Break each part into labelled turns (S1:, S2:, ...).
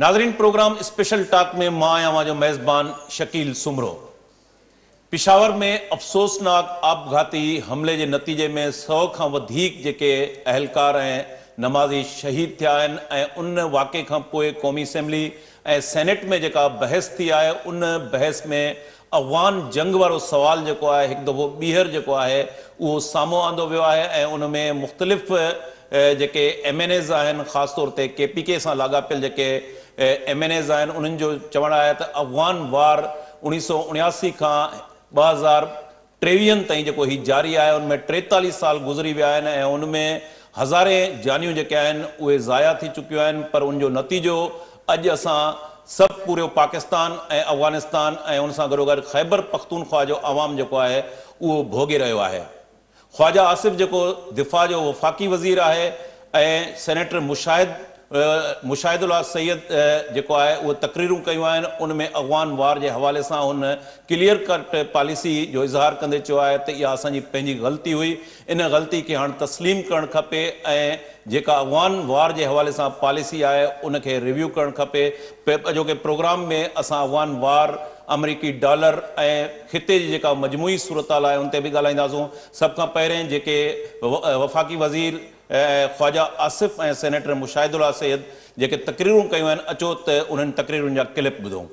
S1: ناظرين programme special talk ۾ مان آهيان اوهان جو ميزبان شڪيل سومرو. پشاور ۾ افسوسناڪ آپگهاتي حملي جي نتيجي ۾ سؤ کان وڌيڪ جيڪي اهلڪار ۽ نمازي شهيد ٿيا آهن ۽ ان واقعي کان پوء قومي اسيمبلي ۽ سينيٽ ۾ جيڪا بحث ٿي آهي ان بحث ۾ افغان جنگ وارو سوال جيڪو آهي هڪ دفعو ٻيهر جيڪو آهي اهو سامهون آندو ويو آهي ۽ ان ۾ مختلف جيڪي ايم اين ايز آهن خاص طور تي ڪي پي ڪي سان لاڳاپيل جيڪي ايم اين ايز آهن انهن جو چوڻ آهي ته افغان وار اوڻيهه سؤ اڻياسي کان ٻه هزار ٽيويهن تائين جيڪو هي جاري آهي ان ۾ ٽيتاليهه سال گذري ويا آهن ۽ ان ۾ هزارين جانيون جيڪي آهن اهي ضايع ٿي چڪيون آهن پر ان جو نتيجو اڄ اسان سڀ پوريو پاڪستان ۽ افغانستان ۽ ان سان گڏوگڏ خيبر پختونخواهه جو عوام جيڪو آهي اهو ڀوڳي رهيو آهي خواجه آصف جيڪو دفاع جو وفاقي وزير آهي ۽ سينيٽر مشاهد مشاهد الله سيد جيڪو آهي اهي تقريرون ڪيون آهن ان ۾ اغوان وار جي حوالي سان هن ڪليئر ڪٽ پاليسي جو اظهار ڪندي چيو آهي ته اها اسان جي پنهنجي غلطي هئي ان غلطي کي هاڻ تسليم ڪرڻ کپي ۽ جيڪا اغوان وار جي حوالي سان پاليسي آهي ان کي ريويو ڪرڻ کپي اڄوڪي پروگرام ۾ اسان اغوان وار آمريڪي ڊالر ۽ خطي جي جيڪا مجموعي صورتحال آهي ان تي به ڳالهائينداسون. سڀ کان پهرين جيڪي وفاقي وزير خواجه آصف ۽ سينيٽر مشاهد الله سيد جيڪي تقريرون ڪيون آهن اچو ته انهن تقريرن جا ڪلپ ٻڌون.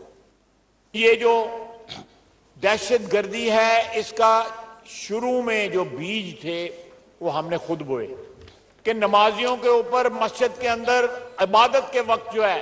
S1: يي
S2: جو دهشت گردي هي اس ڪا شروع مين جو بيج ٿي وو هم ني خود بوئي ڪي نمازيون ڪي اوپر مسجد ڪي اندر عبادت ڪي وقت جو هي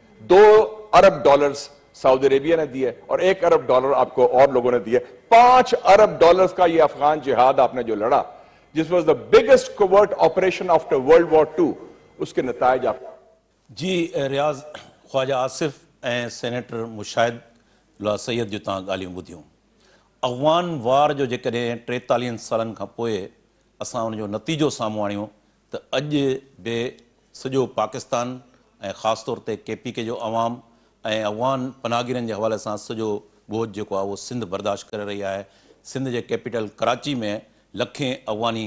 S3: دو ارب ڊالرز سعودي عربيه نه ديئي اور ايڪ ارب ڊالر آپ کو اور لوگو نه ديئي پانچ ارب ڊالرز کا يي افغان جهاد آپ نه جو لڙا جس was the biggest covert operation after world war two اس ڪي نتائج آپ جي
S1: رياض خواجه آصف ۽ سينيٽر مشاهد الله سيد جون تان ڳالهيون ٻڌيون اغوان وار جو جيڪڏهن ٽيتاليهن سالن کان پوء اسان ان جو نتيجو سامهون آڻيون ته اڄ به سڄو پاڪستان ۽ خاص طور تي ڪي پي ڪي جو عوام ۽ افغان پناهگيرن جي حوالي سان سڄو ٻوجهه جيڪو آهي اهو سنڌ برداشت ڪري رهي آهي. سنڌ جي ڪيپيٽل ڪراچي ۾ لکين افغاني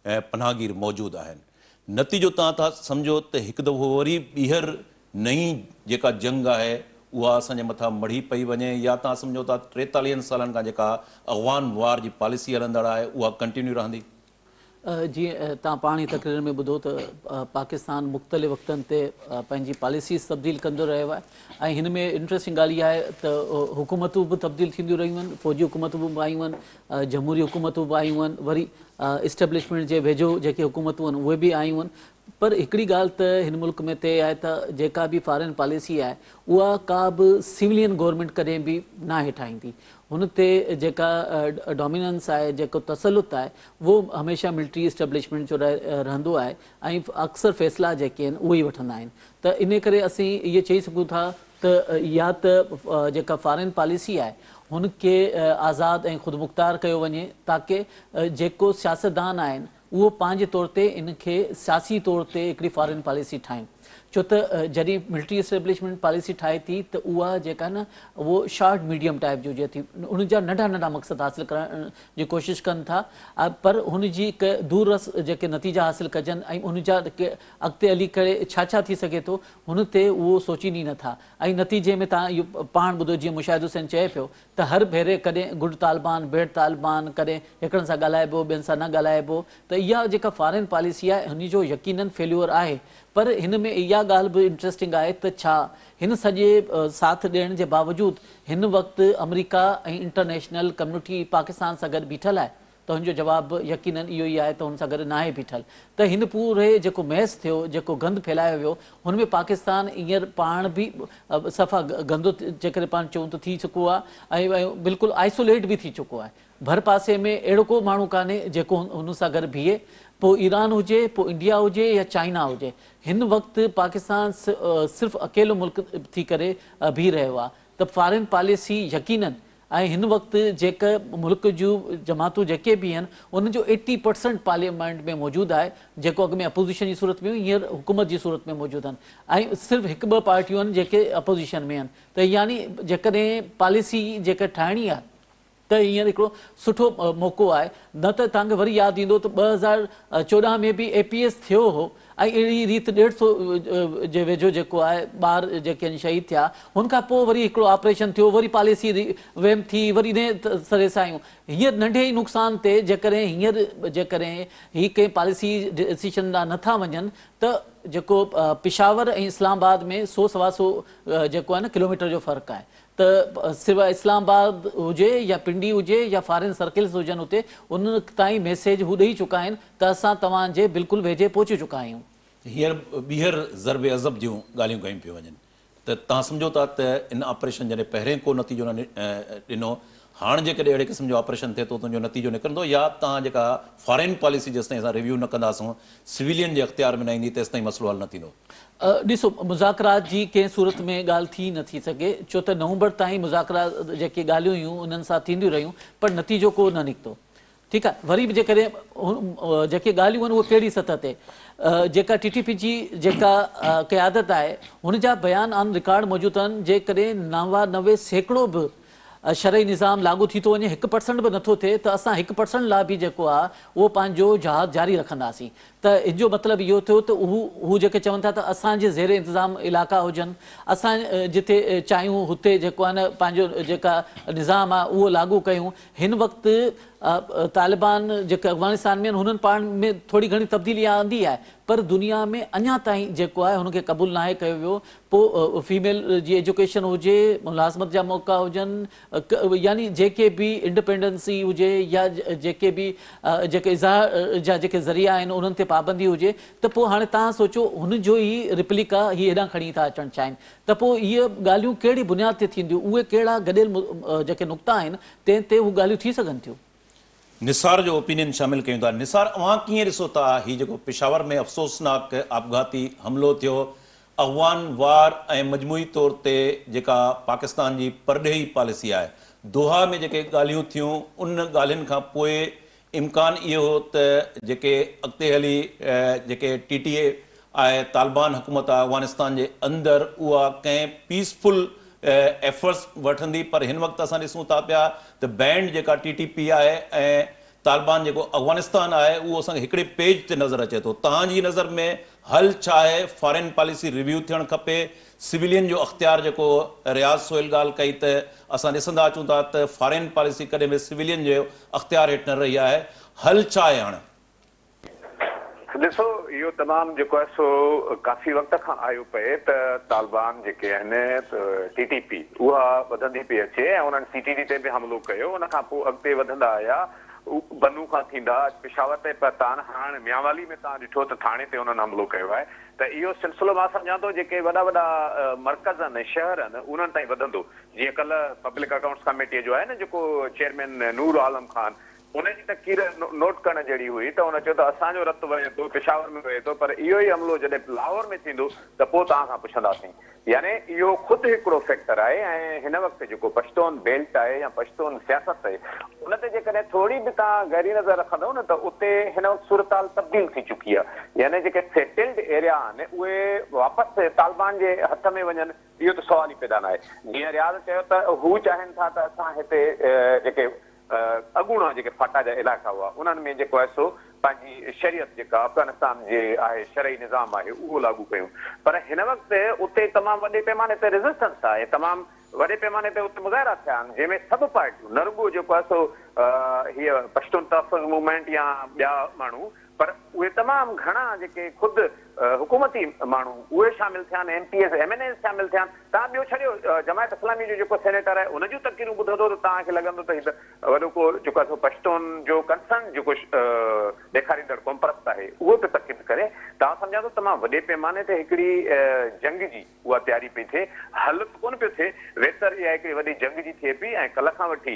S1: پناهگير موجود آهن. نتيجو تان ٿا سمجهو ته هڪ دفعو وري ٻيهر نئين جيڪا جنگ آهي اها اسان جي مٿان مڙهي پئي وڃي يا تان سمجهو ته ٽيتاليهن سالن کان جيڪا افغان وار جي پاليسي هلندڙ آهي اها ڪنٽينيو رهندي. جيئن
S4: توهان پاڻ ئي تقرير ۾ ٻڌو ته پاڪستان مختلف وقتن تي پنهنجي پاليسيز تبديل ڪندو رهيو آهي ۽ هن ۾ انٽرسٽنگ ڳالهه اها آهي ته حڪومتون به تبديل ٿينديون رهيون آهن فوجي حڪومتون به آيون آهن جمهوري حڪومتون به آيون آهن وري اسٽيبلشمينٽ جي ويجهو جيڪي حڪومتون آهن اهي به آيون آهن پر هڪڙي ڳالهه ته هن ملڪ ۾ طئي آهي ته جيڪا به فارين پاليسي آهي اها ڪا به سولين گورنمينٽ ڪڏهن به ناهي ٺاهيندي. هن تي جيڪا ڊوميننس آهي، جيڪو تسلط آهي اهو هميشه ملٽري اسٽيبلشمينٽ جو رهندو آهي ۽ اڪثر فيصلا جيڪي آهن اهي ئي وٺندا آهن ته انهي ڪري اسين اهي چئي سگهون ٿا ته يا ته جيڪا فارين پاليسي آهي هن کي آزاد ۽ خودمختار ڪيو وڃي تاڪه جيڪو سياستدان آهن اهو پنهنجي طور تي ان کي سياسي طور تي هڪڙي فارين پاليسي ٺاهين ڇو ته جڏهن ملٽري اسٽيبلشمينٽ پاليسي ٺاهي ٿي ته اها جيڪا آهي نه اهو شارٽ ميڊيم ٽائيپ جو جي ٿي ان جا ننڍا ننڍا مقصد حاصل ڪرڻ جي ڪوشش ڪن ٿا پر هن جي هڪ دور رس جيڪي نتيجا حاصل ڪجن ۽ ان جا اڳتي هلي ڪري ڇا ڇا ٿي سگهي ٿو هن تي اهو سوچين ئي نه ٿا ۽ نتيجي ۾ تهان اهو پاڻ ٻڌو جيئن مشاهد حسين چئي پيو ته هر ڀيري ڪڏهن گڊ طالبان، بيڊ طالبان، ڪڏهن هڪڙن سان ڳالهائبو، ٻين سان نه ڳالهائبو ته اها جيڪا فارين پاليسي آهي ان جو يقينن فيليور آهي پر هن ۾ اها ڳالهه به انٽريسٽنگ آهي ته ڇا هن سڄي ساٿ ڏيڻ جي باوجود هن وقت آمريڪا ۽ انٽرنيشنل ڪميونٽي پاڪستان سان گڏ بيٺل آهي تنهنجو جواب به يقيناً اهو ئي آهي ته هن سان گڏ ناهي بيٺل ته هن پوري جيڪو ميس ٿيو، جيڪو گند ڦهلايو ويو، هن ۾ پاڪستان هينئر پاڻ به صفا گندو جيڪڏهن پاڻ چئون ته ٿي چڪو آهي ۽ بلڪل آئسوليٽ به ٿي چڪو آهي. ڀر پاسي ۾ اهڙو ڪو ماڻهو ڪانهي جيڪو هن سان گڏ بيهي، پوء ايران هجي، پوء انڊيا هجي يا چائنا هجي. هن وقت پاڪستان صرف اڪيلو ملڪ ٿي ڪري بيهي رهيو آهي ته فارين پاليسي يقيناً ۽ هن وقت جيڪه ملڪ جون جماعتون جيڪي به آهن انهن جو ايٽي پرسنٽ پارليامينٽ ۾ موجود آهي جيڪو اڳ ۾ اپوزيشن جي صورت ۾ هيون هينئر حڪومت جي صورت ۾ موجود آهن ۽ صرف هڪ ٻه پارٽيون آهن جيڪي اپوزيشن ۾ آهن ته يعني جيڪڏهن پاليسي جيڪا ٺاهڻي آهي ته هينئر هڪڙو سٺو موقعو آهي نه ته توهان کي وري ياد ايندو ته ٻه هزار چوڏهن ۾ به اي پي ايس ٿيو هو ۽ اهڙي ريت ڏيڍ سو جي ويجهو جيڪو آهي ٻار جيڪي آهن شهيد ٿيا هن کان پوء وري هڪڙو آپريشن ٿيو وري پاليسي ري ويمپ ٿي وري نئين سري سان آيون هينئر ننڍي ئي نقصان تي جيڪڏهن هينئر جيڪڏهن هي ڪنهن پاليسي ڊسيشن ڏانهن نه ٿا وڃن ته جيڪو پشاور ۽ اسلام آباد ۾ سو سوا سو جيڪو آهي نه ڪلوميٽر جو فرق آهي ته سواء اسلام آباد هجي يا پنڊي هجي يا فارين سرڪلز هجن اتي ان تائين ميسيج هو ڏئي چڪا آهن ته اسان توهان جي بلڪل ويجهي پهچي چڪا آهيون. هينئر
S1: ٻيهر ضرب عضب جون ڳالهيون ڪيون پيون وڃن ته توهان سمجهو ٿا ته ان آپريشن جڏهن پهرين ڪو نتيجو نه ڏنو هاڻ جيڪڏهن اهڙي قسم جو آپريشن ٿئي ٿو ته ان جو نتيجو نڪرندو يا توهان جيڪا فارين پاليسي جيستائين اسان ريويو نه ڪنداسون سويلين جي اختيار ۾ نه ايندي تيستائين مسئلو حل نه ٿيندو. ڏسو
S4: مذاڪرات جي ڪنهن صورت ۾ ڳالهه ٿي نه ٿي سگهي ڇو ته نومبر تائين مذاڪرا جيڪي ڳالهيون هيون انهن سان ٿينديون رهيون پر نتيجو ڪو نه نڪتو ٺيڪ آهي وري به جيڪڏهن جيڪي ڳالهيون آهن اهي ڪهڙي سطح تي جيڪا ٽي ٽي پي جي جيڪا قيادت آهي هن جا بيان آن رڪارڊ موجود آهن جيڪڏهن نوانوي سيڪڙو به شرعي نظام لاڳو ٿي ٿو وڃي هڪ پرسنٽ به نٿو ٿئي ته اسان هڪ پرسنٽ لاء به جيڪو آهي اهو پنهنجو جهاد جاري رکنداسين ته ان جو مطلب اهو ٿيو ته هو هو جيڪي چون ٿا ته اسان جي زير انتظام علائقا هجن، اسان جتي چاهيون هتي جيڪو آهي نه پنهنجو جيڪا نظام آهي اهو لاڳو ڪيون، هن وقت طالبان جيڪي افغانستان ۾ آهن هنن پاڻ ۾ ٿوري گهڻي تبديلي آندي آهي پر دنيا ۾ اڃا تائين جيڪو آهي هن کي قبول ناهي ڪيو ويو، پوء فيميل جي ايجوڪيشن هجي، ملازمت جا موقعا هجن، يعني جيڪي به انڊپينڊنسي هجي يا جيڪي به جيڪي اظهار جا جيڪي ذريعا آهن انهن تي پابندي هجي ته پوء هاڻي تهان سوچو هن جو ئي رپليڪا هي هيڏانهن کڻي ٿا اچڻ چاهين ته پوء اهي ڳالهيون ڪهڙي بنياد تي ٿينديون اهي ڪهڙا گڏيل جيڪي نقطا آهن تنهن تي اهي ڳالهيون ٿي سگهن ٿيون. نثار جو
S1: اوپينين شامل ڪيون ٿا. نثار اوهان ڪيئن ڏسو ٿا هي جيڪو پشاور ۾ افسوسناڪ آپگهاتي حملو ٿيو اغوان وار ۽ مجموعي طور تي جيڪا پاڪستان جي پرڏيهي پاليسي آهي دوحا ۾ جيڪي ڳالهيون ٿيون ان ڳالهين کان پوء امڪان اهو هو ته جيڪي اڳتي هلي جيڪي ٽي ٽي اي آء طالبان حڪومت افغانستان جي اندر اها ڪنهن پيس فل ايفرٽس وٺندي پر هن وقت اسان ڏسون ٿا پيا ته بينڊ جيڪا ٽي ٽي پي آء ۽ طالبان جيڪو افغانستان آء اهو اسان کي هڪڙي پيج تي نظر اچي ٿو توهان جي نظر ۾ حل ڇا آهي فارين پاليسي ريويو ٿيڻ کپي سولين جو اختيار جيڪو رياض سهيل ڳالهه ڪئي ته اسان ڏسندا اچون ٿا ته فارين پاليسي ڪڏهن به سولين جي اختيار هيٺ نه رهي آهي حل ڇا آهي هاڻي
S5: ڏسو اهو تمام جيڪو آهي سو ڪافي وقت کان آيو پئي ته طالبان جيڪي آهن ٽي ٽي پي اها وڌندي پئي اچي ۽ انهن سي ٽي ڊي تي به حملو ڪيو ان کان پوء اڳتي وڌندا آيا بنو کان ٿيندا اڄ پشاور تائين پهتان هاڻ ميانوالي ۾ توهان ڏٺو ته ٿاڻي تي انهن حملو ڪيو آهي ته اهو سلسلو مان سمجهان ٿو جيڪي وڏا وڏا مرڪز آهن شهر آهن انهن تائين وڌندو جيئن ڪلهه پبلڪ اڪائونٽس ڪاميٽي جو آهي نه جيڪو چيئرمين نور عالم خان هن جي تقرير نوٽ ڪرڻ جهڙي هئي ته هن چيو ته اسان جو رت وهي ٿو، پشاور ۾ وهي ٿو پر اهو ئي عملو جڏهن لاهور ۾ ٿيندو ته پوء توهان کان پڇنداسين. يعني اهو خود هڪڙو فيڪٽر آهي ۽ هن وقت جيڪو پشتون بيلٽ آهي يا پشتون سياست آهي ان تي جيڪڏهن ٿوري به توهان گهري نظر رکندؤ نه ته اتي هن وقت صورتحال تبديل ٿي چڪي آهي يعني جيڪي سيٽلڊ ايريا آهن اهي واپس طالبان جي هٿ ۾ وڃن اهو ته سوال ئي پيدا ناهي. جيئن رياض چيو ته هو چاهين ٿا ته اسان هتي جيڪي اڳوڻا جيڪي فاٽا جا علائقا هئا انهن ۾ جيڪو آهي سو پنهنجي شريعت جيڪا افغانستان جي آهي شرعي نظام آهي اهو لاڳو ڪيون پر هن وقت اتي تمام وڏي پيماني تي ريزسٽنس آهي تمام وڏي پيماني تي اتي مظاهرا ٿيا آهن جنهن ۾ سڀ پارٽيون نه رڳو جيڪو آهي سو هيء پشتون تحفظ موومينٽ يا ٻيا ماڻهو پر اهي تمام گهڻا جيڪي خود حڪومتي ماڻهو اهي شامل ٿيا آهن، M P As, M N As شامل ٿيا آهن، توهان ٻيو ڇڏيو جماعت اسلامي جو جيڪو سينيٽر آهي ان جون تقريرون ٻڌندو ته توهان کي لڳندو ته هي ته وڏو ڪو جيڪو آهي سو پشتون جو ڪنسرن جيڪو ڏيکاريندڙ قومپرست آهي اهو پيو تقرير ڪري، توهان سمجهان ٿو تمام وڏي پيماني تي هڪڙي جنگ جي. اها تياري پئي ٿئي، حل ته ڪونه پيو ٿئي، ويتر اها هڪڙي وڏي جنگ جي ٿئي پئي ۽ ڪلهه کان وٺي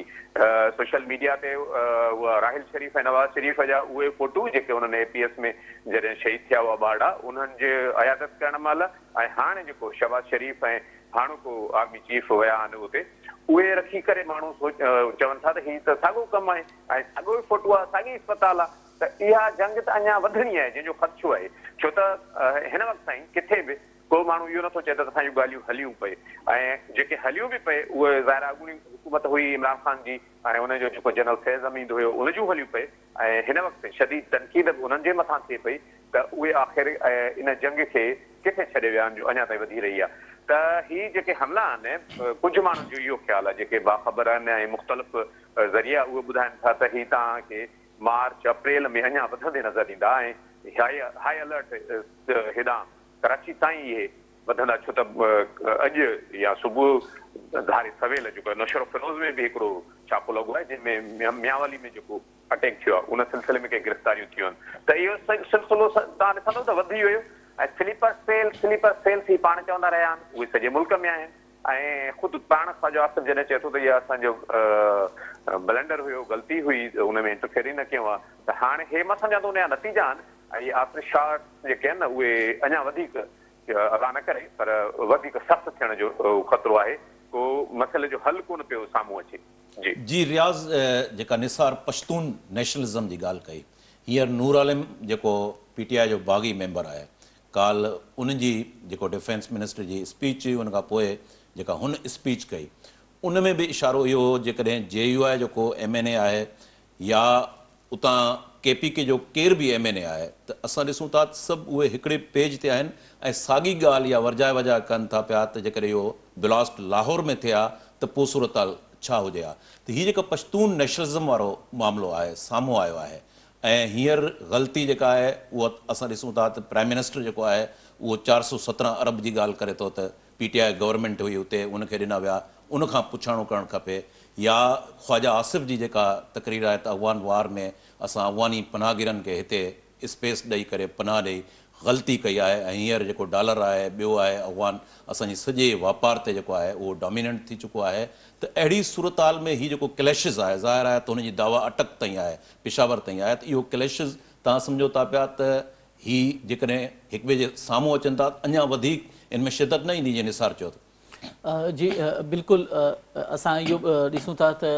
S5: سوشل ميڊيا تي اها راحيل شريف ۽ نواز شريف جا اهي فوٽو جيڪي انهن اي پي ايس ۾ جڏهن شهيد ٿيا هئا ٻارڙا انهن جي عيادت ڪرڻ مهل ۽ هاڻي جيڪو شهباز شريف ۽ هاڻوڪو آرمي چيف ويا آهن اتي اهي رکي ڪري ماڻهو چون ٿا ته هي ته ساڳو ڪم آهي ۽ ساڳو ئي فوٽو آهي ساڳي اسپتال آهي ته اها جنگ ته اڃا وڌڻي آهي جنهن جو خدشو آهي ڇو ته هن وقت تائين ڪٿي به ڪو ماڻهو اهو نٿو چئي ته اسانجون ڳالهيون هليون پئي ۽ جيڪي هليون به پئي اهي ظاهر آهي اڳوڻي حڪومت هئي عمران خان جي ۽ ان جو جيڪو جنرل فيض حميد هيو ان جون هليون پئي ۽ هن وقت شديد تنقيد به انهن جي مٿان ٿئي پئي ته اهي آخر ان جنگ کي ڪٿي ڇڏي ويا آهن جو اڃا تائين وڌي رهي آهي ته هي جيڪي حملا آهن ڪجهه ماڻهن جو اهو خيال آهي جيڪي باخبر آهن ۽ مختلف ذريعا اهو ٻڌائن ٿا ته هي توهان کي مارچ اپريل ۾ اڃا وڌندي نظر ايندا ۽ هاء الرٽ هيڏانهن ڪراچي تائين اهي وڌندا ڇو ته اڄ يا صبح ڌاري سويل جيڪو نوشهروفيروز ۾ به هڪڙو ڇاپو لڳو آهي جنهن ۾ ميانوالي ۾ جيڪو اٽيڪ ٿيو آهي ان سلسلي ۾ ڪي گرفتاريون ٿيون آهن ته اهو سلسلو توهان ڏسندو ته وڌي ويو ۽ سليپر سيل سليپر سيل سي پاڻ چوندا رهيا آهن اهي سڄي ملڪ ۾ آهن ۽ خود پاڻ خواجو آصف جڏهن چئي ٿو ته اهي اسان جو بلنڊر هيو غلطي هئي ان ۾ انٽرفيئر ئي نه ڪيون ها ته هاڻي هي مان سمجهان ٿو ان جا نتيجا آهن اهي آفٽر شاڪ جيڪي آهن نه اهي اڃا وڌيڪ الله نه ڪري پر وڌيڪ سخت ٿيڻ جو خطرو آهي ڪو مسئلي جو حل ڪونه پيو سامهون اچي جي. جي رياض
S1: جيڪا نثار پشتون نيشنلزم جي ڳالهه ڪئي هينئر نور عالم جيڪو پي ٽي آء جو باغي ميمبر آهي ڪالهه ان جي جيڪو ڊفينس منسٽر جي اسپيچ هئي ان کان پوء جيڪا هن اسپيچ ڪئي ان ۾ به اشارو اهو هو جيڪڏهن جي يو آء جو ڪو ايم اين اي آهي يا اتان ڪي پي ڪي جو ڪير به ايم اين اي آهي ته اسان ڏسون ٿا ته سڀ اهي هڪڙي پيج تي آهن ۽ ساڳي ڳالهه يا ورجائي وجائي ڪن ٿا پيا ته جيڪڏهن اهو بلاسٽ لاهور ۾ ٿئي ها ته پوء صورتحال ڇا هجي ها ته هي جيڪا پشتون نيشنلزم وارو معاملو آهي سامهون آيو آهي ۽ هينئر غلطي جيڪا آهي اها اسان ڏسون ٿا ته پرائيم منسٽر جيڪو آهي اهو چار سؤ سترهن ارب جي ڳالهه ڪري ٿو ته پي ٽي آء گورنمينٽ هئي اتي ان کي ڏنا ويا ان کان پڇاڻو ڪرڻ کپي يا خواجه آصف جي جيڪا تقرير آهي ته افغان وار ۾ اسان افغاني پناهگيرن کي هتي اسپيس ڏئي ڪري پناهه ڏئي غلطي ڪئي آهي ۽ هينئر جيڪو ڊالر آهي ٻيو آهي افغان اسان جي سڄي واپار تي جيڪو آهي اهو ڊاميننٽ ٿي چڪو آهي ته اهڙي صورتحال ۾ هي جيڪو ڪليشز آهي ظاهر آهي ته هن جي دعويٰ اٽڪ تائين آهي پشاور تائين آهي ته اهو ڪليشز توهان سمجهو ٿا پيا ته هي جيڪڏهن هڪٻئي جي سامهون اچن ٿا ته اڃا وڌيڪ ان ۾ شدت نه ايندي جيئن نثار چيو ته. جي
S4: بلڪل اسان اهو به ڏسون ٿا ته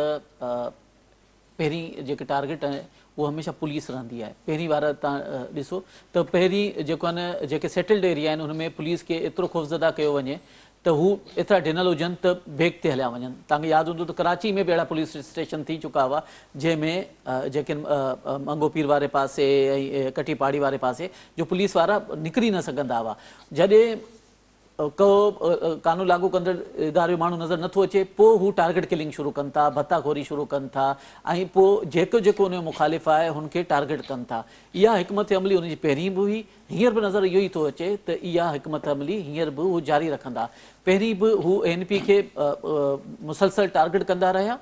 S4: پهرين جيڪي ٽارگيٽ آهي اهو هميشه پوليس رهندي آهي پهرين وار تان ڏسو ته پهرين جيڪو آهي نه جيڪي سيٽلڊ ايريا آهن ان ۾ پوليس کي ايترو خوفزده ڪيو وڃي ته هو ايترا ڊنل هجن ته ڀيڪ تي هليا وڃن. توهان کي ياد هوندو ته ڪراچي ۾ به اهڙا پوليس اسٽيشن ٿي چڪا هئا جنهن ۾ جيڪن منگهو پير واري پاسي ۽ ڪٺي پاڙي واري پاسي جو پوليس وارا نڪري نه سگهندا هئا جڏهن ڪو قانون لاڳو ڪندڙ اداري جو ماڻهو نظر نٿو اچي پوء هو ٽارگيٽ ڪلنگ شروع ڪن ٿا ڀتا خوري شروع ڪن ٿا ۽ پوء جيڪو جيڪو ان جو مخالف آهي هن کي ٽارگيٽ ڪن ٿا اها حڪمت عملي ان جي پهرين به هئي هينئر به نظر اهو ئي ٿو اچي ته اها حڪمت عملي هينئر به هو جاري رکندا. پهرين به هو اي اين پي کي مسلسل ٽارگيٽ ڪندا رهيا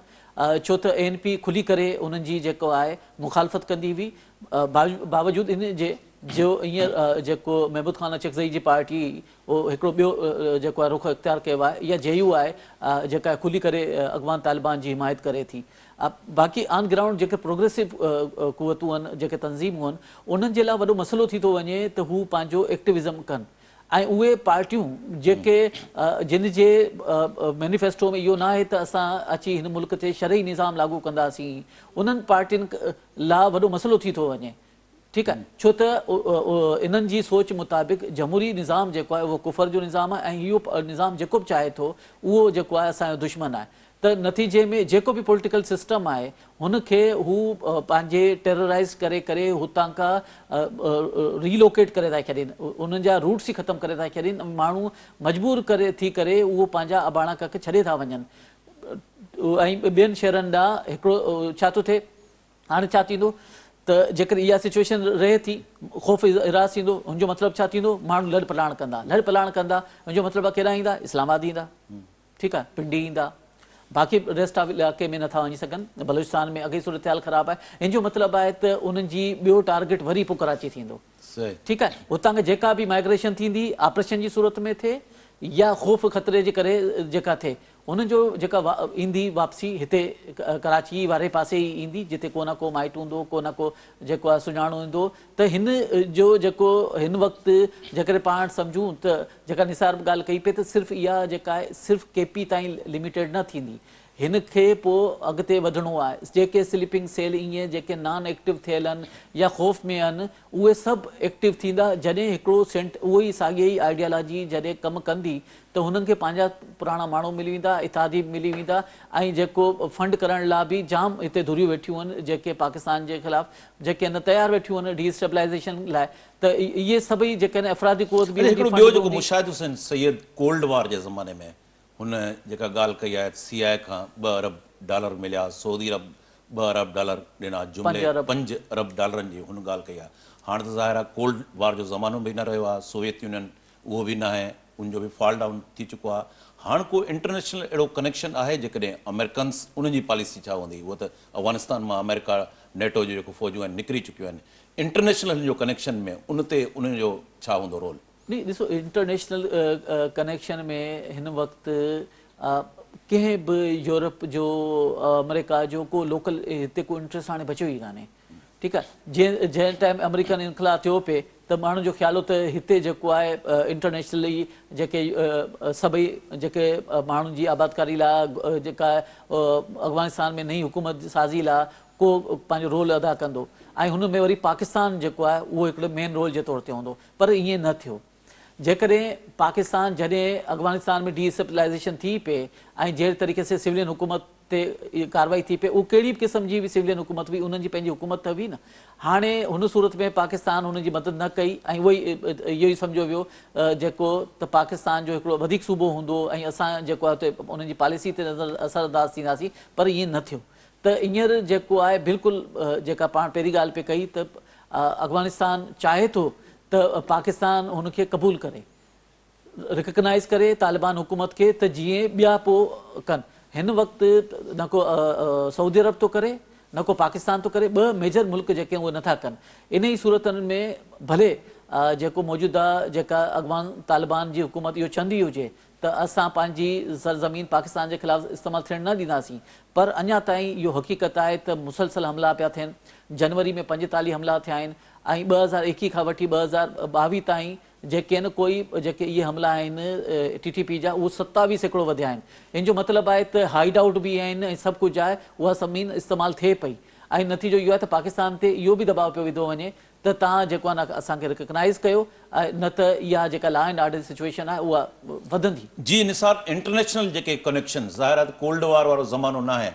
S4: ڇو ته اي اين پي کلي ڪري انهن جي جيڪو آهي مخالفت ڪندي هئي باوجود ان جي جو هينئر جيڪو محمود خان اچڪزئي جي پارٽي اهو هڪڙو ٻيو جيڪو آهي رخ اختيار ڪيو آهي يا جي يو آء جيڪا کلي ڪري اڳواڻ طالبان جي حمايت ڪري ٿي. باقي آن گرائونڊ جيڪي پروگريسو قوتون آهن، جيڪي تنظيمون آهن، انهن جي لاء وڏو مسئلو ٿي ٿو وڃي ته هو پنهنجو ايڪٽوزم ڪن ۽ اهي پارٽيون جيڪي جن جي مينيفيسٽو ۾ اهو نه آهي ته اسان اچي هن ملڪ تي شرعي نظام لاڳو ڪنداسين، انهن پارٽين لاء وڏو مسئلو ٿي ٿو وڃي ٺيڪ آهي ڇو ته انهن جي سوچ مطابق جمهوري نظام جيڪو آهي اهو ڪفر جو نظام آهي ۽ اهو نظام جيڪو به چاهي ٿو اهو جيڪو آهي اسان جو دشمن آهي ته نتيجي ۾ جيڪو به پوليٽيڪل سسٽم آهي هن کي هو پنهنجي ٽيرورائز ڪري ڪري هتان کان ري لوڪيٽ ڪري ٿا ڇڏين انهن جا روٽس ئي ختم ڪري ٿا ڇڏين ۽ ماڻهو مجبور ڪري ٿي ڪري اهو پنهنجا اباڻا ڪک ڇڏي ٿا وڃن ۽ ٻين شهرن ڏانهن هڪڙو ڇا ٿو ٿئي هاڻي ڇا ٿيندو ته جيڪڏهن اها سچوئيشن رهي ٿي، خوف هراس ٿيندو، ان جو مطلب ڇا ٿيندو، ماڻهو لڙ پلاڻ ڪندا، لڙ پلاڻ ڪندا، ان جو مطلب آهي ڪيڏانهن ايندا، اسلام آباد ايندا، ٺيڪ آهي، پنڊي ايندا، باقي ريسٽ آف علائقي ۾ نٿا وڃي سگهن، بلوچستان ۾ اڳ ئي صورتحال خراب آهي، ان جو مطلب آهي ته انهن جي ٻيو ٽارگيٽ وري پوء ڪراچي ٿيندو، ٺيڪ آهي، هتان کان جيڪا به مائگريشن ٿيندي، آپريشن جي صورت ۾ ٿئي يا خوف خطري جي ڪري جيڪا ٿئي، هن جو جيڪا ايندي واپسي هتي ڪراچيء واري پاسي ئي ايندي جتي ڪو نه ڪو مائٽ هوندو ڪو نه ڪو جيڪو آهي سڃاڻو هوندو ته هن جو جيڪو هن وقت جيڪڏهن پاڻ سمجهون ته جيڪا نثار ڳالهه ڪئي پئي ته صرف اها جيڪا آهي صرف ڪي پي تائين لميٽيڊ نه ٿيندي هن کي پوء اڳتي وڌڻو آهي جيڪي سليپنگ سيل ايئن جيڪي نان ايڪٽو ٿيل هن يا خوف ۾ هن اهي سڀ ايڪٽو ٿيندا جڏهن هڪڙو سينٽ اهو ئي ساڳي ئي آئيڊيالاجي جڏهن ڪم ڪندي ته هنن کي پنهنجا پراڻا ماڻهو ملي ويندا اتحادي به ملي ويندا ۽ جيڪو فنڊ ڪرڻ لا به جام هتي ڌريون ويٺيون هن جيڪي پاڪستان جي خلاف جيڪي هن تيار ويٺيون هن ڊي اسٽيبلائيزيشن لا ته اهي سڀئي جيڪڏهن افرادي قوت به هوندي فنڊ به هوندي. اڇا هڪڙو ٻيو جيڪو
S1: مشاهدو سيد ڪولڊ وار جي زماني ۾ هن جيڪا ڳالهه ڪئي آهي ته سي آء اي کان ٻه ارب ڊالر مليا، سعودي عرب ٻه ارب ڊالر ڏنا، جملي پنج ارب ڊالرن جي هن ڳالهه ڪئي آهي. هاڻ ته ظاهر آهي ڪولڊ وار جو زمانو به نه رهيو آهي، سوويت يونين اهو به ناهي، ان جو به فال ڊائون ٿي چڪو آهي. هاڻ ڪو انٽرنيشنل اهڙو ڪنيڪشن آهي جيڪڏهن آمريڪنس ان جي پاليسي ڇا هوندي؟ هوء ته افغانستان مان آمريڪا، نيٽو جون جيڪو فوجون آهن نڪري چڪيون آهن، انٽرنيشنل هن جو ڪنيڪشن ۾ ان تي انهن جو ڇا هوندو رول؟ ني ڏسو
S4: انٽرنيشنل ڪنيڪشن ۾ هن وقت ڪنهن به يورپ جو آمريڪا جو ڪو لوڪل هتي ڪو انٽريسٽ هاڻي بچيو ئي ڪانهي ٺيڪ آهي جي جنهن ٽائم آمريڪن انخلا ٿيو پي ته ماڻهن جو خيال هو ته هتي جيڪو آهي انٽرنيشنل ئي جيڪي سڀئي جيڪي ماڻهن جي آبادڪاري لا جيڪا افغانستان ۾ نئي حڪومت سازي لا ڪو پنهنجو رول ادا ڪندو ۽ هن ۾ وري پاڪستان جيڪو آهي اهو هڪڙو مين رول جي طور تي هوندو پر ائين نه ٿيو. جيڪڏهن پاڪستان جڏهن افغانستان ۾ ڊي اسٽيبلائيزيشن ٿي پئي ۽ جهڙي طريقي سي سولين حڪومت تي ڪارروائي ٿي پئي اهو ڪهڙي به قسم جي به سولين حڪومت هئي انهن جي پنهنجي حڪومت ته هئي نه هاڻي هن صورت ۾ پاڪستان انهن جي مدد نه ڪئي ۽ اهو ئي اهو ئي سمجهيو ويو جيڪو ته پاڪستان جو هڪڙو وڌيڪ صوبو هوندو ۽ اسان جيڪو آهي اتي انهن جي پاليسي تي نظر اثر انداز ٿينداسين پر ائين نه ٿيو ته هينئر جيڪو آهي بلڪل جيڪا پاڻ پهرين ڳالهه پئي ڪئي ته افغانستان چاهي ٿو ته پاڪستان هن کي قبول ڪري رڪگنائيز ڪري طالبان حڪومت کي ته جيئن ٻيا پو ڪن هن وقت نه ڪو سعودي عرب ٿو ڪري نه ڪو پاڪستان ٿو ڪري ٻه ميجر ملڪ جيڪي اهي نٿا ڪن انهي صورتن ۾ ڀلي جيڪو موجوده جيڪا اڳواڻ طالبان جي حڪومت اهو چهندي هجي ته اسان پنهنجي سرزمين پاڪستان جي خلاف استعمال ٿيڻ نه ڏينداسين پر اڃا تائين اهو حقيقت آهي ته مسلسل حملا پيا ٿين، جنوري ۾ پنجيتاليهه حملا ٿيا آهن ۽ ٻه هزار ايڪيهه کان وٺي ٻه هزار ٻاويهه تائين جيڪين ڪوئي جيڪي اهي حملا آهن ٽي ٽي پي جا اهو ستاويهه سيڪڙو وڌيا آهن ان جو مطلب آهي ته هائيڊ آئوٽ به آهن ۽ سڀ ڪجهه آهي اها زمين استعمال ٿئي پئي ۽ نتيجو اهو آهي ته پاڪستان تي اهو به دٻاء پيو وڌو وڃي ته تان جيڪو آهي نه اسان کي رڪگنائيز ڪيو نه ته اها جيڪا لا اينڊ آرڊر جي سچوئيشن آهي اها وڌندي. جي نثار
S1: انٽرنيشنل جيڪي ڪنيڪشن ظاهر آهي ته ڪولڊ وار وارو زمانو ناهي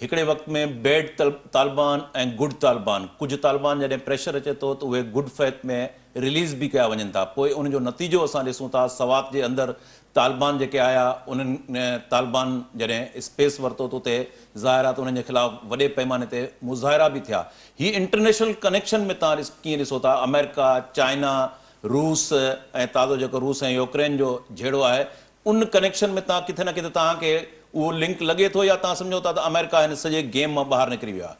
S1: هڪڙي وقت ۾ بيڊ طالبان ۽ گڊ طالبان ڪجهه طالبان جڏهن پريشر اچي ٿو ته اهي گڊ فيٿ ۾ رليز به ڪيا وڃن ٿا پوء ان جو نتيجو اسان ڏسون ٿا سوات جي اندر طالبان جيڪي آيا انهن طالبان جڏهن اسپيس ورتو ته اتي ظاهر آهي ته انهن جي خلاف وڏي پئماني تي مظاهرا به ٿيا هي انٽرنيشنل ڪنيڪشن ۾ توهان ڪيئن ڏسو ٿا آمريڪا، چائنا، روس ۽ تازو جيڪو روس ۽ يوڪرين جو جهيڙو آهي ان ڪنيڪشن ۾ توهان ڪٿي نه ڪٿي توهان کي اهو لنڪ لڳي ٿو يا توهان سمجهو ٿا ته آمريڪا هن سڄي گيم مان ٻاهر نڪري ويو آهي.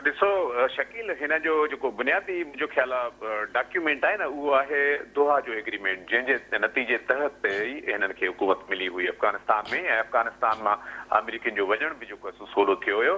S1: ڏسو
S5: شڪيل هن جو جيڪو بنيادي منهنجو خيال آهي ڊاڪيومينٽ آهي نه اهو آهي دوحا جو ايگريمينٽ جنهن جي نتيجي تحت تي ئي هنن کي حڪومت ملي هئي افغانستان ۾ ۽ افغانستان مان آمريڪين جو وڃڻ به جيڪو سو سولو ٿيو هيو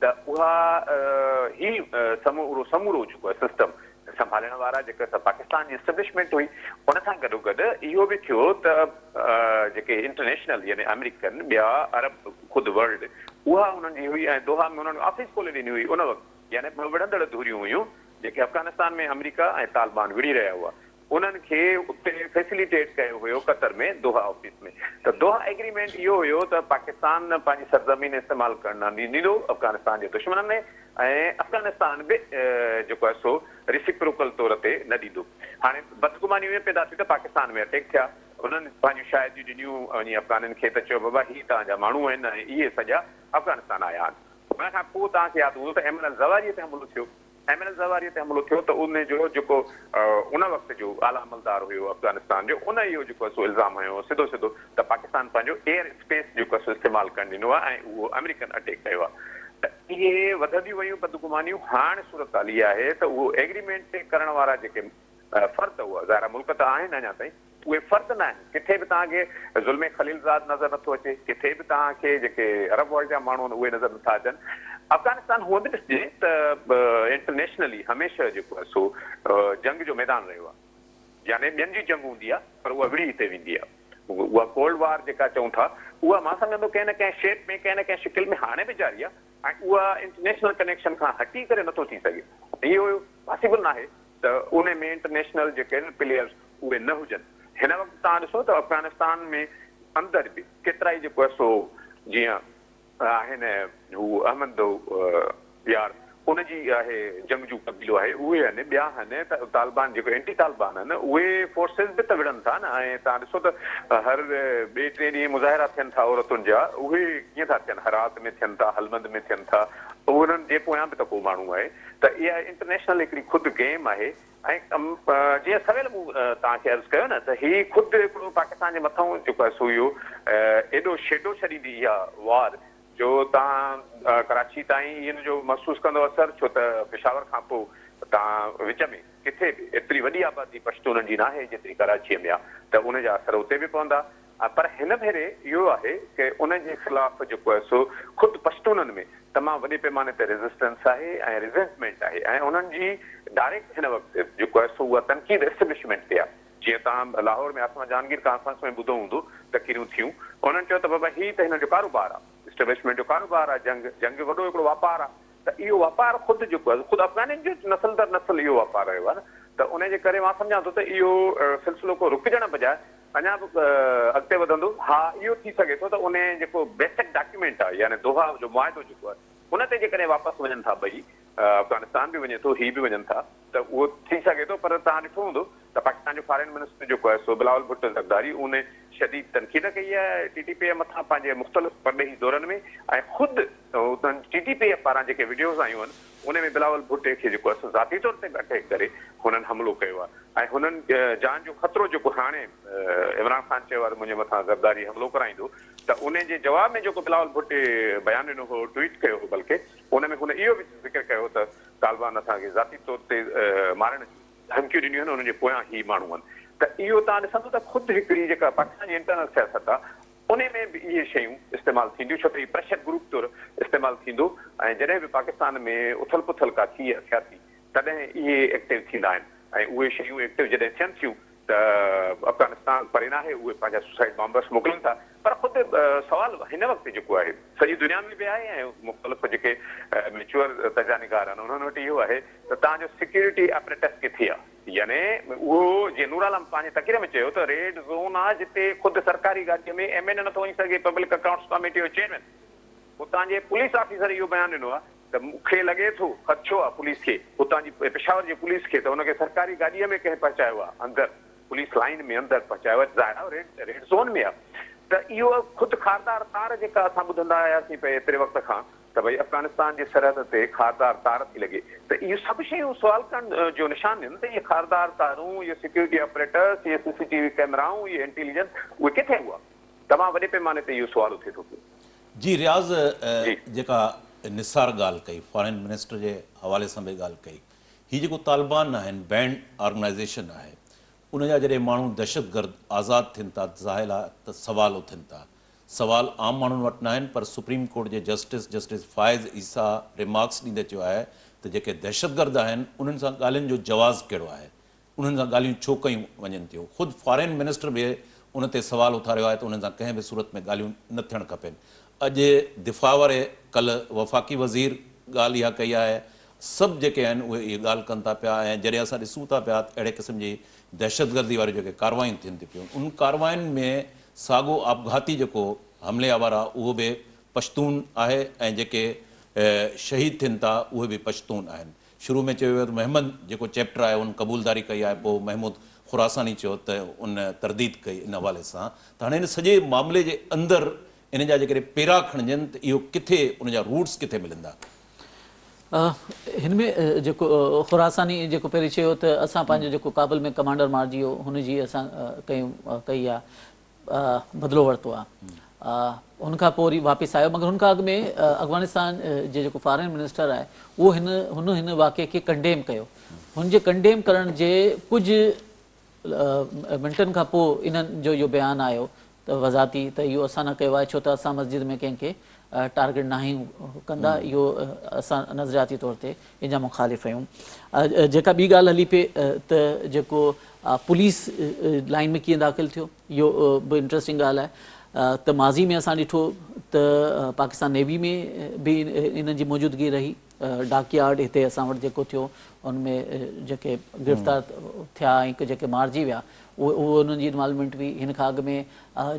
S5: ته اها هي سمورو سمورو جيڪو سسٽم سنڀالڻ وارا جيڪا سا پاڪستان جي اسٽبلشمينٽ هئي ان سان گڏو گڏ اهو به ٿيو ته جيڪي انٽرنيشنل يعني آمريڪن ٻيا عرب خود ورلڊ اها انهن جي هئي ۽ دوحا ۾ انهن آفيس کولي ڏني هئي ان وقت يعني ٻه وڙهندڙ ڌريون هيون جيڪي افغانستان ۾ آمريڪا ۽ طالبان وڙهي رهيا هئا انهن کي اتي فيسليٽيٽ ڪيو ويو قطر ۾ دوحا آفيس ۾ ته دوحا ايگريمينٽ اهو هيو ته پاڪستان پنهنجي سرزمين استعمال ڪرڻ نه ڏيندو افغانستان جي دشمنن ۾ ۽ افغانستان به جيڪو آهي سو ريسيپروڪل طور تي نه ڏيندو هاڻي بدگمانيون اهي پيدا ٿيون ته پاڪستان ۾ اٽيڪ ٿيا انهن پنهنجون شاهديون ڏنيون وڃي افغانين کي ته چيو بابا هي توهان جا ماڻهو آهن ۽ اهي سڄا افغانستان آيا آهن ان کان پوء توهان کي ياد هوندو ته ايمن الزواريء تي حملو ٿيو ايم اين الزواريء تي حملو ٿيو ته ان جو جيڪو ان وقت جو اعليٰ عملدار هيو افغانستان جو ان اهو جيڪو سو الزام هنيو هو سڌو سڌو ته پاڪستان پنهنجو ايئر اسپيس جيڪو سو استعمال ڪرڻ ڏنو آهي ۽ اهو آمريڪن اٽيڪ ڪيو آهي ته اهي وڌنديون ويون بدگمانيون هاڻ صورتحال اها آهي ته اهو ايگريمينٽ تي ڪرڻ وارا جيڪي فرد هئا ظاهر آهي ملڪ ته آهن اڃا تائين اهي فرد نه آهن، ڪٿي به توهان کي زلمي خليلزاد نظر نٿو اچي، ڪٿي به توهان کي جيڪي عرب ورلڊ جا ماڻهو آهن اهي نظر نٿا اچن. افغانستان هونئن به ڏسجي ته انٽرنيشنلي هميشه جيڪو آهي سو جنگ جو ميدان رهيو آهي. يعني ٻين جي جنگ هوندي آهي پر اها وڙهي هتي ويندي آهي. اها ڪولڊ وار جيڪا چئون ٿا اها مان سمجهندو ڪنهن نه ڪنهن شيپ ۾ ڪنهن نه ڪنهن شڪل ۾ هاڻي به جاري آهي. ۽ اها انٽرنيشنل ڪنيڪشن کان هٽي ڪري نٿو ٿي سگهي. اهو پاسيبل ناهي ته ان ۾ انٽرنيشنل جيڪي آهن پليئرز اهي نه هجن. هن وقت توهان ڏسو ته افغانستان ۾ اندر به ڪيترائي جيڪو سو جيئن آهن هو احمد يار ان جي آهي. جنگجو قبيلو آهي اهي آهن ٻيا آهن ته طالبان جيڪو اينٽي طالبان آهن اهي فورسز به ته وڙهن ٿا نه ۽ تهان ڏسو ته هر ٻئي ٽئين ڏينهن مظاهرا ٿين ٿا عورتن جا اهي ڪيئن ٿا ٿين هرات ۾ ٿين ٿا هلمند ۾ ٿين ٿا انهن جي پويان به ته ڪو ماڻهو آهي ته اها انٽرنيشنل هڪڙي خود گيم آهي ۽ جيئن سويل مون تهان کي عرض ڪيو نه ته هي خود هڪڙو پاڪستان جي مٿئون جيڪو آهي سو اهو ايڏو شيڊو ڇڏيندي اها وار جو توهان ڪراچي تائين اين جو محسوس ڪندو اثر ڇو ته پشاور کان پو تان وچ ۾ ڪٿي به ايتري وڏي آبادي پشتونن جي ناهي جيتري ڪراچي ۾ آ ته ان جا اثر اتي به پوندا پر هن ڀيري اهو آهي ڪه ان جي خلاف جيڪو آهي سو خود پشتونن ۾ تمام وڏي پيماني تي ريزسٽنس آهي ۽ ريزينٽمينٽ آهي ۽ انهن جي ڊائريڪٽ هن وقت جيڪو آهي سو اها تنقيد اسٽبلشمينٽ تي آ. جيئن توهان لاهور ۾ آسما جهانگير ڪانفرنس ۾ ٻڌو هوندو، تقريرون ٿيون، انهن چيو ته بابا هي ته هنن جو ڪاروبار آ، اسٽيبلشمينٽ جو ڪاروبار آ، جنگ، جنگ جو وڏو هڪڙو واپار آ، ته اهو واپار خود جيڪو آ، خود افغانين جو نسل در نسل اهو واپار رهيو آ نه، ته انهيء جي ڪري مان سمجهان ٿو ته اهو سلسلو ڪو رڪجڻ بجاء اڃا به اڳتي وڌندو. ها اهو ٿي سگهي ٿو ته انهيء جيڪو بيسڪ ڊاڪيومينٽ آ، يعني دوحا جو معاهدو جيڪو آ، ان تي جيڪڏهن واپس وڃن ٿا ٻئي، افغانستان به وڃي ٿو هي به وڃن ٿا ته اهو ٿي سگهي ٿو پر توهان ڏٺو هوندو ته پاڪستان جو فارين منسٽر جيڪو آهي سو بلاول ڀٽو زرداري ان شديد تنقيد ڪئي آهي ٽي ٽي پي مٿان پنهنجي مختلف پرڏيهي دورن ۾ ۽ خود انهن ٽي ٽي پي پاران جيڪي وڊيوز آيون آهن ان ۾ بلاول ڀٽي کي جيڪو آهي ذاتي طور تي به اٽيڪ ڪري هنن حملو ڪيو آهي ۽ هنن جان جو خطرو جيڪو هاڻي عمران خان چيو آهي ته منهنجي مٿان زرداري حملو ڪرائيندو ته ان جي جواب ۾ جيڪو بلاول ڀٽي بيان ڏنو هو ٽوئيٽ ڪيو هو بلڪه ان ۾ هن اهو به ذڪر ڪيو ته طالبان اسان کي ذاتي طور تي مارڻ جون ڌمڪيون ڏنيون آهن، انهن جي پويان هي ماڻهو آهن ته اهو توهان ڏسندو ته خود هڪڙي جيڪا پاڪستان جي انٽرنل سياست آهي ان ۾ به اهي شيون استعمال ٿينديون ڇو ته هي پريشر گروپ طور استعمال ٿيندو ۽ جڏهن به پاڪستان ۾ اٿل پٿل ڪا ٿئي سياسي تڏهن اهي ايڪٽو ٿيندا آهن ۽ اهي شيون ايڪٽو جڏهن ٿين ٿيون ته افغانستان پري ناهي اهي پنهنجا سوسائيڊ بامبرس موڪلين ٿا پر خود سوال هن وقت جيڪو آهي سڄي دنيا ۾ به آهي ۽ مختلف جيڪي ميچوئر تجزيا نگار آهن انهن وٽ اهو آهي ته توهان جو سيڪيورٽي اپريٽس ڪٿي آهي؟ يعني اهو جيئن نور عالم پنهنجي تقرير ۾ چيو ته ريڊ زون آهي جتي خود سرڪاري گاڏي ۾ ايم اين اي نٿو وڃي سگهي پبلڪ اڪائونٽس ڪاميٽي جو چيئرمين اتان جي پوليس آفيسر اهو بيان ڏنو آهي ته مون کي لڳي ٿو خدشو آهي پوليس کي اتان جي پشاور جي پوليس کي ته ان کي سرڪاري گاڏي ۾ ڪنهن پهچايو آهي اندر پوليس لائين ۾ اندر پهچايو آهي ظاهر آهي ريڊ ريڊ زون ۾ آهي ته اهو خود خاردار تار جيڪا اسان ٻڌندا آياسين پئي ايتري وقت کان ته ڀئي افغانستان جي سرحد تي خاردار تار ٿي لڳي ته اهي سڀ شيون سوال ڪرڻ جو نشان آهن ته اهي خاردار تارون اهي سيڪيورٽي آپريٽرس اهي سي سي ٽي وي ڪيمرائون اهي انٽيليجنس اهي ڪٿي هئا تمام وڏي پيماني تي اهو سوال اٿي ٿو پيو جي رياض
S1: جيڪا نثار ڳالهه ڪئي فارين منسٽر جي حوالي سان به ڳالهه ڪئي هي جيڪو طالبان آهن بينڊ آرگنائيزيشن آهي ان جا جڏهن ماڻهو دهشت گرد آزاد ٿين ٿا ظاهر آهي ته سوال اٿن ٿا سوال عام ماڻهن وٽ ناهن پر سپريم ڪورٽ جي justice justice Faez Isa remarks ڏيندي چيو آهي ته جيڪي دهشت گرد آهن انهن سان ڳالهين جو جواز ڪهڙو آهي انهن سان ڳالهيون ڇو ڪيون وڃن ٿيون؟ خود فارين منسٽر به ان تي سوال اٿاريو آهي ته انهن سان ڪنهن به صورت ۾ ڳالهيون نه ٿيڻ کپين. اڄ دفاع واري ڪلهه وفاقي وزير ڳالهه اها ڪئي آهي. سڀ جيڪي آهن اهي اهي ڳالهه ڪن ٿا پيا ۽ جڏهن اسان ڏسون ٿا پيا ته اهڙي قسم جي دهشتگردي واريون جيڪي ڪارروايون ٿين ٿي پيون انهن ڪاررواين ۾ ساڳو آپگهاتي جيڪو حملي آور آهي اهو به پشتون آهي ۽ جيڪي شهيد ٿين ٿا اهي به پشتون آهن. شروع ۾ چيو ويو ته محمد جيڪو چيپٽر آهي ان قبولداري ڪئي آهي پوء محمود خراساني چيو ته ان ترديد ڪئي ان حوالي سان ته هاڻي ان سڄي معاملي جي اندر ان جا جيڪڏهن پيرا کڻجن ته اهو ڪٿي ان جا روٽس ڪٿي ملن ٿا.
S4: هن ۾ جيڪو خراساني جيڪو پهرين چيو ته اسان پنهنجو جيڪو ڪابل ۾ ڪمانڊر مارجي ويو هن جي اسان ڪيون ڪئي آهي بدلو ورتو آ ان کان پوء وري واپس آيو مگر ان کان اڳ ۾ افغانستان جي جيڪو فارن منسٽر آهي اهو هن هن هن واقعي کي ڪنڊيم ڪيو هن جي ڪنڊيم ڪرڻ جي ڪجهه منٽن کان پوء انهن جو اهو بيان آيو ته وضاحتي ته اهو اسان نه ڪيو آهي ڇو ته اسان مسجد ۾ ڪنهن کي ٽارگيٽ ناهيون ڪندا اهو اسان نظرياتي طور تي ان جا مخالف آهيون جيڪا ٻي ڳالهه هلي پئي ته جيڪو پوليس لائن ۾ ڪيئن داخل ٿيو اهو به انٽرسٽنگ ڳالهه آهي ته ماضي ۾ اسان ڏٺو ته پاڪستان نيوي ۾ به انهن جي موجودگي رهي ڊاڪ يارڊ هتي اسان وٽ جيڪو ٿيو ان ۾ جيڪي گرفتار ٿيا ۽ جيڪي مارجي ويا اهي انهن جي انوالومينٽ هئي هن کان اڳ ۾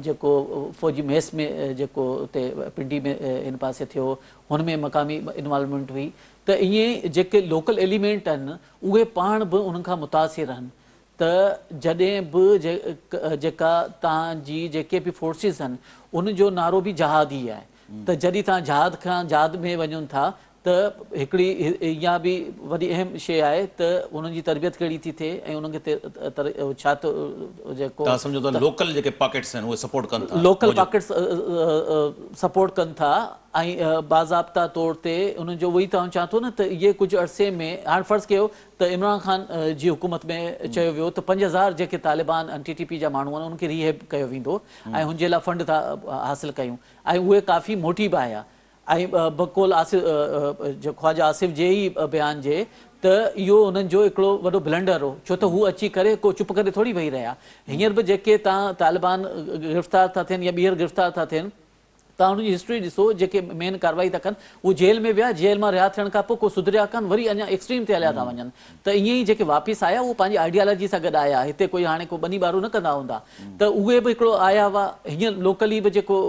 S4: جيڪو فوجي ميس ۾ جيڪو اتي پنڊي ۾ هن پاسي ٿيو هن ۾ مقامي انوالومينٽ هئي ته ائين جيڪي لوڪل ايليمينٽ آهن اهي پاڻ به انهن کان متاثر آهن ته جڏهن به جيڪا توهان جي جيڪي به فورسز آهن ان جو نعرو به جهاد ئي آهي ته جڏهن توهان جهاد کان جهاد ۾ وڃن ٿا ته هڪڙي اها به وڏي اهم شيء آهي ته انهن جي تربيت ڪهڙي ٿي ٿئي ۽ انهن کي ڇا ٿو جيڪو توهان سمجهو ته لوڪل
S1: جيڪي پاڪيٽس آهن اهي سپورٽ ڪن ٿا لوڪل پاڪيٽس
S4: سپورٽ ڪن ٿا ۽ باضابطا طور تي انهن جو اهو ئي توهان چوان ٿو نه ته اهي ڪجهه عرصي ۾ هاڻ فرض ڪيو ته عمران خان جي حڪومت ۾ چيو ويو ته پنج هزار جيڪي طالبان ۽ ٽي ٽي پي جا ماڻهو آهن ان کي ريهيب ڪيو ويندو ۽ هن جي لاء فنڊ ٿا حاصل ڪيون ۽ اهي ڪافي موٽي به آيا ۽ بقول خواجه آصف جي ئي بيان جي ته اهو انهن جو هڪڙو وڏو بلنڊر هو ڇو ته هو اچي ڪري ڪو چپ ڪري ٿوري ويهي رهيا هينئر به جيڪي تان طالبان گرفتار ٿا ٿين يا ٻيهر گرفتار ٿا ٿين توهان انهن جي هسٽري ڏسو جيڪي مين ڪارروائي ٿا ڪن اهي جيل ۾ ويا جيل مان رها ٿيڻ کان پوء ڪو سڌريا ڪانه وري اڃا ايڪسٽريم تي هليا ٿا وڃن ته ائين ئي جيڪي واپس آيا اهو پنهنجي آئيڊيالاجي سان گڏ آيا هتي ڪوئي هاڻي ڪو ٻني ٻارو نه ڪندا هوندا ته اهي به هڪڙو آيا هئا هينئر لوڪلي به جيڪو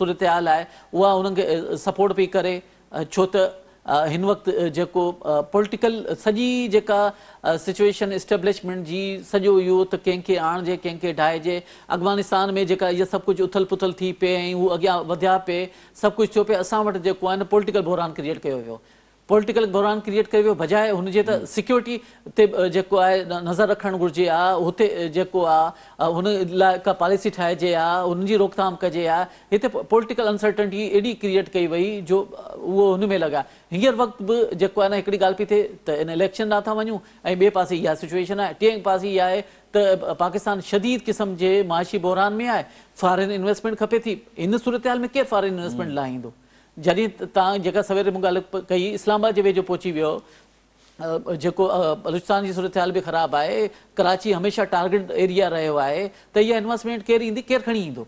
S4: صورتحال آهي اها انهن کي سپورٽ پئي ڪري ڇو ته هن وقت جيڪو پولٽيڪل سڄي جيڪا سچوئيشن اسٽيبلشمينٽ جي سڄو اهو ته ڪنهن کي آڻجي ڪنهن کي ڊاهجي افغانستان ۾ جيڪا اها سڀ ڪجهه اٿل پٿل ٿي پئي ۽ هو اڳيان وڌيا پئي سڀ ڪجهه ٿيو پئي اسان وٽ جيڪو آهي نه پولٽيڪل بحران ڪريئيٽ ڪيو ويو پولٽيڪل بحران ڪريئيٽ ڪيو ويو بجاء هن جي ته سيڪيورٽي تي به جيڪو آهي نظر رکڻ گهرجي ها هتي جيڪو آ هن لاء ڪا پاليسي ٺاهجي ها هن جي روڪٿام ڪجي ها هتي پولٽيڪل انسرٽنٽي ايڏي ڪريئيٽ ڪئي وئي جو اهو هن ۾ لڳا هينئر وقت به جيڪو آهي نه هڪڙي ڳالهه پئي ٿئي ته ان اليڪشن ڏانهن ٿا وڃون ۽ ٻئي پاسي اها سچويشن آهي ٽئين پاسي اها آهي ته پاڪستان شديد قسم جي معاشي بحران ۾ آهي فارين انويسٽمينٽ کپي ٿي ان صورتحال ۾ ڪير فارين انويسٽمينٽ لاء ايندو جڏهن تان جيڪا سوير مون ڳالهه ڪئي اسلام آباد جي ويجهو پهچي ويو جيڪو بلوچستان جي صورتحال به خراب آهي، ڪراچي هميشه ٽارگيٽ ايريا رهيو آهي ته اها انويسٽمينٽ ڪير ايندي ڪير کڻي ايندو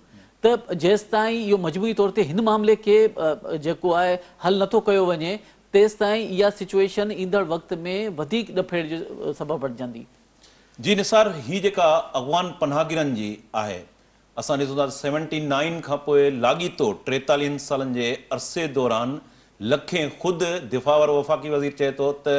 S4: ته جيستائين اهو مجموعي طور تي هن معاملي کي جيڪو آهي حل نٿو ڪيو وڃي تيستائين اها سچويشن ايندڙ وقت ۾ وڌيڪ ڏڦيڙ جو سبب بڻجندي. جي نثار
S1: هي جيڪا اغوان پناهگيرن جي آهي اسان ڏسون ٿا ته سيونٽي نائين کان پوء لاڳيتو ٽيتاليهن سالن جي عرصي دوران لکين خود دفاع وارو وفاقي وزير چئي ٿو ته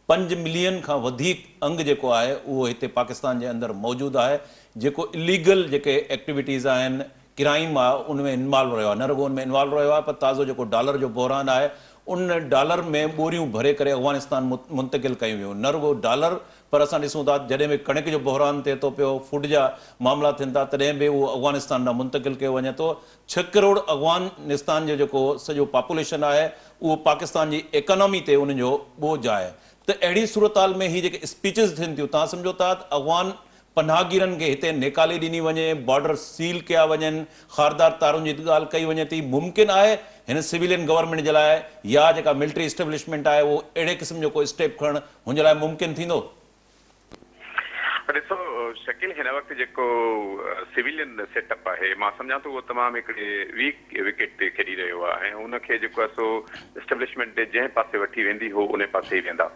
S1: پنج ملين کان وڌيڪ انگ جيڪو آهي اهو هتي پاڪستان جي اندر موجود آهي جيڪو اليگل جيڪي ايڪٽيويٽيز آهن ڪرائيم آهي ان ۾ انوالو رهيو آهي نه رڳو ان ۾ انوالو رهيو آهي پر تازو جيڪو ڊالر جو بحران آهي ان ڊالر ۾ ٻوريون ڀري ڪري افغانستان منتقل ڪيون ويون نه رڳو ڊالر پر اسان ڏسون ٿا ته جڏهن به ڪڻڪ جو بحران ٿئي ٿو پيو، فوڊ جا معاملا ٿين ٿا تڏهن به اهو افغانستان ڏانهن منتقل ڪيو وڃي ٿو. ڇهه ڪروڙ افغان نستان جو جيڪو سڄو پاپوليشن آهي اهو پاڪستان جي ايڪانامي تي انهن جو ٻوجهه آهي ته اهڙي صورتحال ۾ هي جيڪي اسپيچز ٿين ٿيون توهان سمجهو ٿا ته افغان پناهگيرن کي هتي نيڪالي ڏني وڃي، بارڊر سيل ڪيا وڃن، خاردار تارن جي ته ڳالهه ڪئي وڃي ٿي ممڪن آهي هن سويلين گورنمينٽ جي لاء يا جيڪا ملٽري اسٽيبلشمينٽ آهي اهو اهڙي قسم جو ڪو اسٽيپ کڻڻ هن لاء ممڪن ٿيندو؟ ڏسو
S5: شڪيل هن وقت جيڪو سويلين سيٽ اپ آهي مان سمجهان ٿو اهو تمام هڪڙي ويڪ وڪيٽ تي کيڏي رهيو آهي ۽ ان کي جيڪو آهي سو اسٽبلشمينٽ جنهن پاسي وٺي ويندي هو انهي پاسي ئي ويندا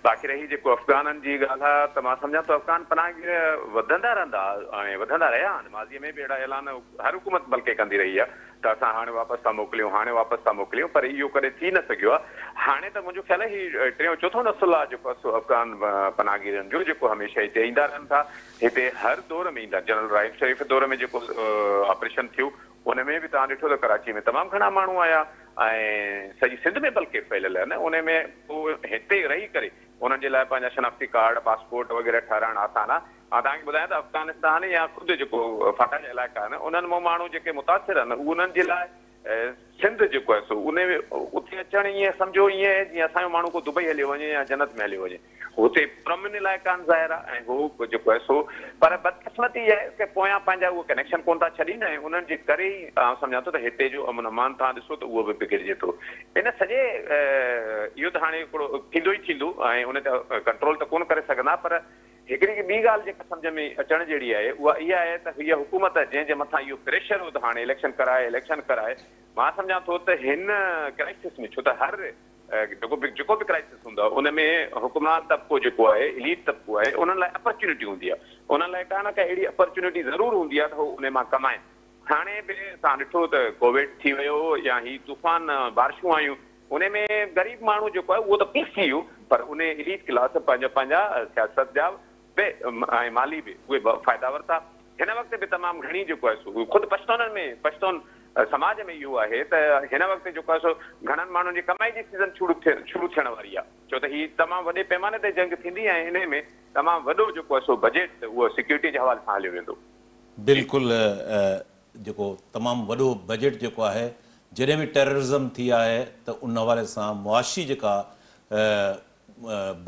S5: باقي رهي جيڪو افغانن جي ڳالهه آهي ته مان سمجهان ٿو افغان پناهگير وڌندا رهندا ۽ وڌندا رهيا آهن ماضي ۾ به اهڙا اعلان هر حڪومت بلڪه ڪندي رهي آهي ته اسان هاڻي واپس ٿا موڪليون، هاڻي واپس ٿا موڪليون پر اهو ڪڏهن ٿي نه سگهيو آهي. هاڻي ته منهنجو خيال آهي هي ٽيون چوٿون نسل آهي جيڪو اسو افغان پناهگيرن جو جيڪو هميشه هتي ايندا رهن ٿا. هتي هر دور ۾ ايندا جنرل رحيم شريف دور ۾ جيڪو آپريشن ٿيو ان ۾ به توهان ڏٺو ته ڪراچي ۾ تمام گهڻا ماڻهو آيا ۽ سڄي سنڌ ۾ بلڪه ڦهليل آهن ان ۾ هتي رهي ڪري انهن جي لاء پنهنجا شناختي ڪارڊ، پاسپورٽ وغيره ٺهرائڻ آسان آهي. مان توهان کي ٻڌايان ته افغانستان يا خود جيڪو فاٽا جا علائقا آهن انهن مان ماڻهو جيڪي متاثر آهن انهن جي لاء سنڌ جيڪو آهي سو انهي اتي اچڻ ائين سمجهو ائين آهي جيئن اسان جو ماڻهو ڪو دبئي هليو وڃي يا جنت ۾ هليو وڃي هتي پرامن علائقا آهن ظاهر آهي ۽ هو جيڪو آهي سو پر بدقسمتي اها آهي ته پويان پنهنجا اهي ڪنيڪشن ڪونه ٿا ڇڏين ۽ انهن جي ڪري ئي آئون سمجهان ٿو ته هتي جو امن امان توهان ڏسو ته اهو به بگڙجي ٿو ان سڄي اهو ته هاڻي هڪڙو ٿيندو ئي ٿيندو ۽ ان تي ڪنٽرول ته ڪونه ڪري سگهندا پر هڪڙي ٻي ڳالهه جيڪا سمجهه ۾ اچڻ جهڙي آهي اها اها آهي ته هيء حڪومت جنهن جي مٿان اهو پريشر هو ته هاڻي اليڪشن ڪراء اليڪشن ڪراء مان سمجهان ٿو ته هن ڪرائسس ۾ ڇو ته هر جيڪو به جيڪو به ڪرائسس هوندو ان ۾ حڪمران طبقو جيڪو آهي اليٽ طبقو آهي انهن لاء اپرچونٽي هوندي آهي انهن لاء ڪا نه ڪا اهڙي اپرچونٽي ضرور هوندي آهي ته هو ان مان ڪمائن هاڻي به اسان ڏٺو ته ڪوويڊ ٿي ويو يا هي طوفان بارشون آيون انهي ۾ غريب ماڻهو جيڪو آهي اهو ته پيس ٿي ويو پر انهي اليٽ ڪلاس پنهنجا پنهنجا سياست جا به ۽ مالي به اهي فائدا ورتا. هن وقت به تمام گهڻي جيڪو آهي سو خود پشتونن ۾ پشتون سماج ۾ اهو آهي ته هن وقت جيڪو آهي سو گهڻن ماڻهن جي ڪمائي جي سيزن شروع ٿي شروع ٿيڻ واري آهي ڇو ته هي تمام وڏي پيماني تي جنگ ٿيندي ۽ انهي ۾ تمام وڏو جيڪو آهي سو بجيٽ اهو سيڪيورٽي جي حوالي سان هليو ويندو. جي. بلڪل
S1: جيڪو تمام وڏو بجيٽ جيڪو آهي جڏهن به ٽيررزم ٿي آهي ته ان حوالي سان معاشي جيڪا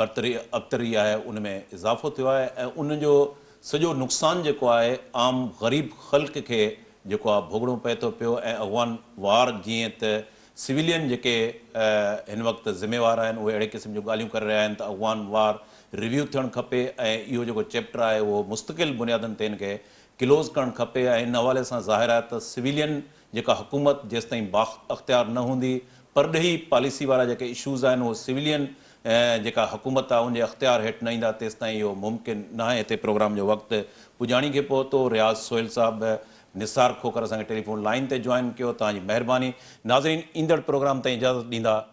S1: برتري ابتري آهي ان ۾ اضافو ٿيو آهي ۽ ان جو سڄو نقصان جيڪو آهي عام غريب خلق کي جيڪو آهي ڀوڳڻو پئي ٿو پيو ۽ اغوان وار جيئن ته سويلين جيڪي هن وقت ذميوار آهن اهي اهڙي قسم جون ڳالهيون ڪري رهيا آهن ته اغوان وار ريويو ٿيڻ کپي ۽ اهو جيڪو چيپٽر آهي اهو مستقل بنيادن تي ان کي ڪلوز ڪرڻ کپي ۽ ان حوالي سان ظاهر آهي ته سويلين جيڪا حڪومت جيستائين بااختيار نه هوندي پرڏيهي پاليسي وارا جيڪي اشوز آهن اهي سويلين جيڪا حڪومت آهي ان جي اختيار هيٺ نه ايندا تيستائين اهو ممڪن ناهي هتي پروگرام جو وقت پڄاڻي کي پهتو رياض سهيل صاحب نثار کوکر اسان کي ٽيليفون لائين تي جوائن ڪيو توهان جي مهرباني ناظرين ايندڙ پروگرام تائين اجازت ڏيندا.